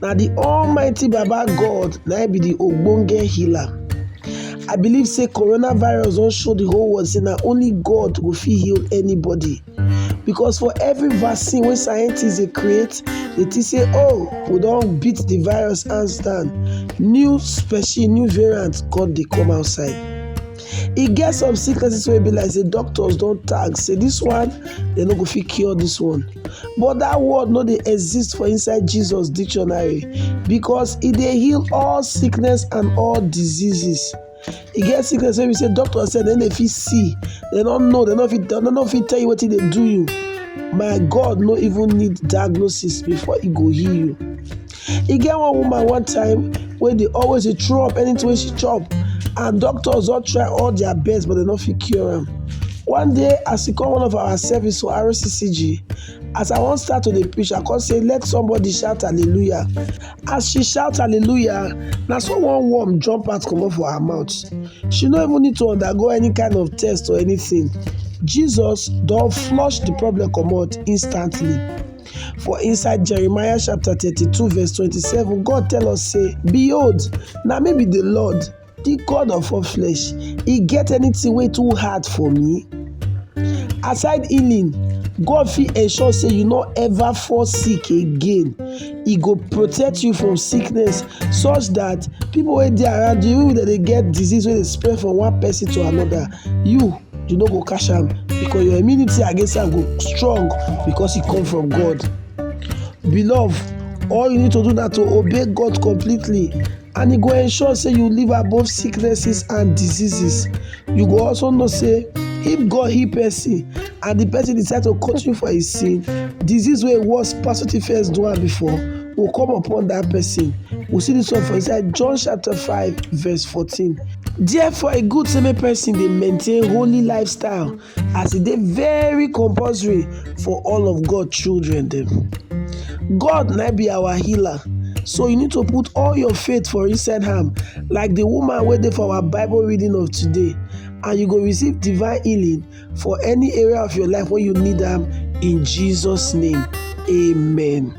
na the almighty baba god na him be the ogbonge healer i believe say coronavirus don show the whole world say na only god go fit heal anybody because for every vaccine wey scientists dey create dey think say oh we don beat the virus hands down new species new variant come dey come outside e get some sicknesses wey be like say doctors don tag say this one dem no go fit cure this one but that word no dey exist for inside jesus dictionary because e dey heal all sickness and all diseases e get sickness wey be say doctor sef dem dey fit see dem no know dem no fit dem no fit tell you wetin dey do you my god no even need diagnosis before e go heal you e get one woman one time wey dey always dey throw up anything wey she chop and doctors don try all their best but dem no fit cure am one day as e come one of our service for RCCG as I wan start to dey preach I come say let somebody shout hallelujah as she shout hallelujah na so one worm jump out comot for her mouth she no even need to undergo any kind of test or anything Jesus don flush the problem comot instantly. For inside Jeremiah chapter 32 verse 27, God tell us say, Behold, na me be the Lord, the God of all flesh. E get anything wey too hard for me? Aside healing, God fit ensure say you no ever fall sick again. E go protect you from sickness such that people wey dey around you, even if dem dey get disease wey dey spread from one person to another, you you no go catch am because your immunity against am go strong because e come from God. Beloved, all you need to do na to obey God completely and e go ensure say you live above sicknesses and diseases. You go also know say if God heal person and the person decide to continue for his sin, disease wey worse pass wetin first do am before go come upon that person. We see this one for inside John chapter 5 verse 14. Therefore e good say make person dey maintain holy lifestyle as e dey very compulsory for all of God children dem. God na be our healer so you need to put all your faith for inside am like the woman wey dey for our bible reading of today and you go receive divine healing for any area of your life wey you need am in Jesus name amen.